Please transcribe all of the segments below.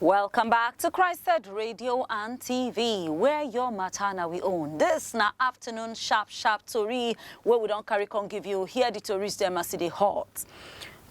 Welcome back to Christed Radio and TV, where your matter na we own. This na afternoon sharp sharp tori where we don't carry con give you here the tories them as they hot.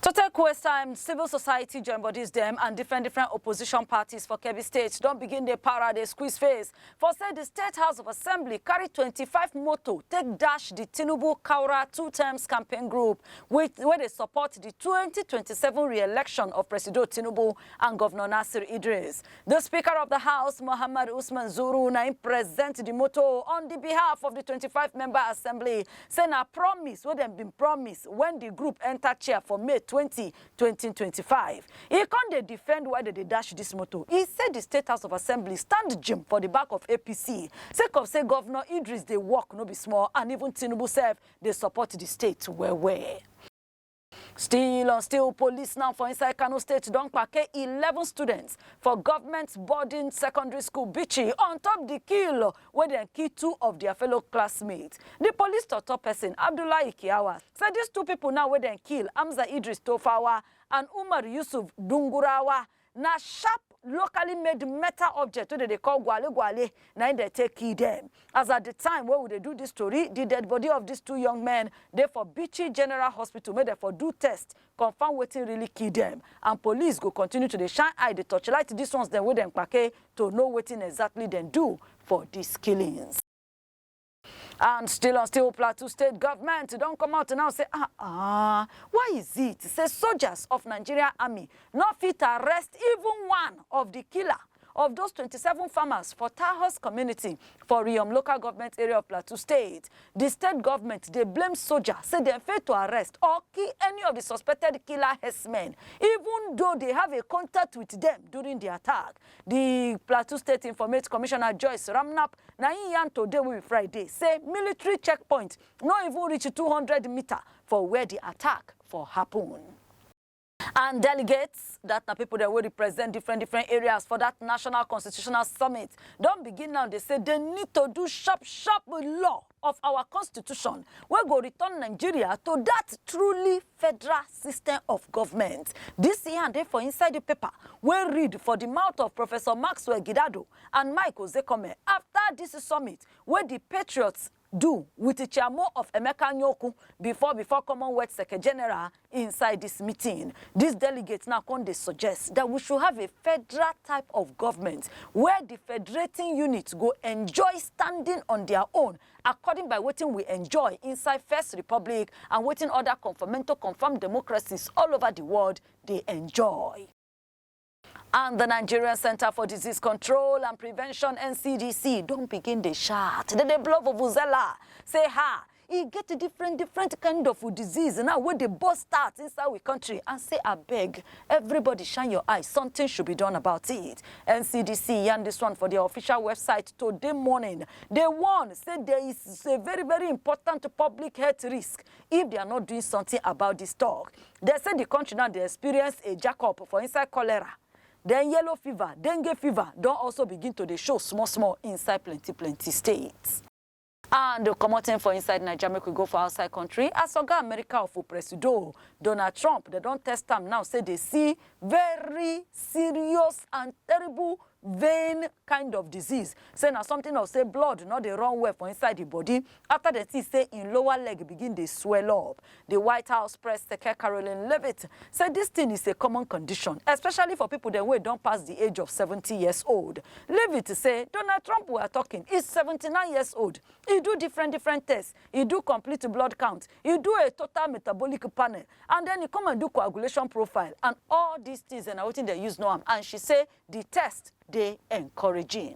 To take quest time, civil society join bodies them and different different opposition parties for Kebbi State don't begin the para, they squeeze face For say di State House of Assembly carry twenty five moto take dash di Tinubu Kaura Two Terms Campaign Group wit wey dey support di twenty twenty seven re-election of Presido Tinubu and Govnor Nasir Idris. Di Speaker of di House, Mohammed Usman Zuru na im present di moto on di behalf of di twenty five member assembly, say na promise wey dem bin promise wen di group enta chair for May twenty 2025, e come dey defend why dem dey dash dis motor. E say di State House of Assembly stand jim for di back of APC sake of say Govnor Idris dey work no be small and even Tinubu sef dey support di state well well. Still on still, police now for inside Kano State don kpake eleven students for government boarding secondary school, Bichi, on top di kill wey dem kill two of dia fellow classmates. Di police tok-tok pesin, Abdullahi Kiyawa, say dis two pipo now wey dem kill, Hamza Idris Tofawa and Umar Yusuf Dungurawa, na sharp, locally made metal object wey dem dey call gwale-gwale na im dem take kill dem. As at di time wey we dey do dis tori, di dead bodi of dis two young men dey for Bichi General Hospital make dem for do test confam wetin really kill dem and police go continue to dey shine eye dey torchlight dis ones dem wey dem kpake to know wetin exactly dem do for dis killings. And still on still Plateau State government don come out now say ah ah why is it say soldiers of Nigeria army no fit arrest even one of di killer of those twenty seven farmers for Taahos community for Riyom local government area of Plateau State. The state government dey blame soldier say dem fail to arrest or kill any of the suspected killer herdsmen even though they have a contact with them during the attack. The Plateau State Informate Commissioner Joyce Ramnap na im yarn today wey be Friday say military checkpoint no even reach two hundred meter for where the attack for happen. And delegates, that na people that will represent different different areas for that National Constitutional Summit, don't begin now, they say they need to do sharp, sharp law of our constitution wey go return nigeria to that truly federal system of government dis yarn dey for inside the paper wey read for the mouth of professor maxwell gidado and mike ozekhome after this summit wey the patriots do wit Chiamo of Emeka Nwoku bifor bifor Commonwealth Seke-General inside dis meeting. Dis delegates now come dey suggest dat we should have a federal type of govment wia di federating units go enjoy standing on dia own according by wetin we enjoy inside First Republic and wetin oda conformento-confirmed democracies all ova di world dey enjoy. and the Nigerian Center for Disease Control and Prevention NCDC don't begin the shout. They dey blow vuvuzela, say ha, e get a different different kind of disease now wey dey burst out inside we country and say abeg everybody shine your eye something should be done about it ncdc yarn this one for their official website today morning they warn say there is a very very important public health risk if they are not doing something about this talk. They say the country now they experience a jack-up for inside cholera. Then yellow fever, dengue fever don't also begin to dey show small small inside plenty plenty states. And commoting for inside Nigeria, make we go for outside country. As Oga America of Presido Donald Trump, they don't test am now, say they see very serious and terrible vein kind of disease. Say na something of say blood not dey run well for inside the body. Afta dem see say im lower leg begin dey swell up, di White House press seke Karoline Leavitt say dis tin is a common condition, especially for pipo dem wey don pass di age of seventy years old. Leavitt say Donald Trump were talking is seventy nine years old, e do different different tests, e do complete blood count, e do a total metabolic panel and den e come and do coagulation profile and all dis tins dem na wetin dem use know am and she say di test dey encouraging.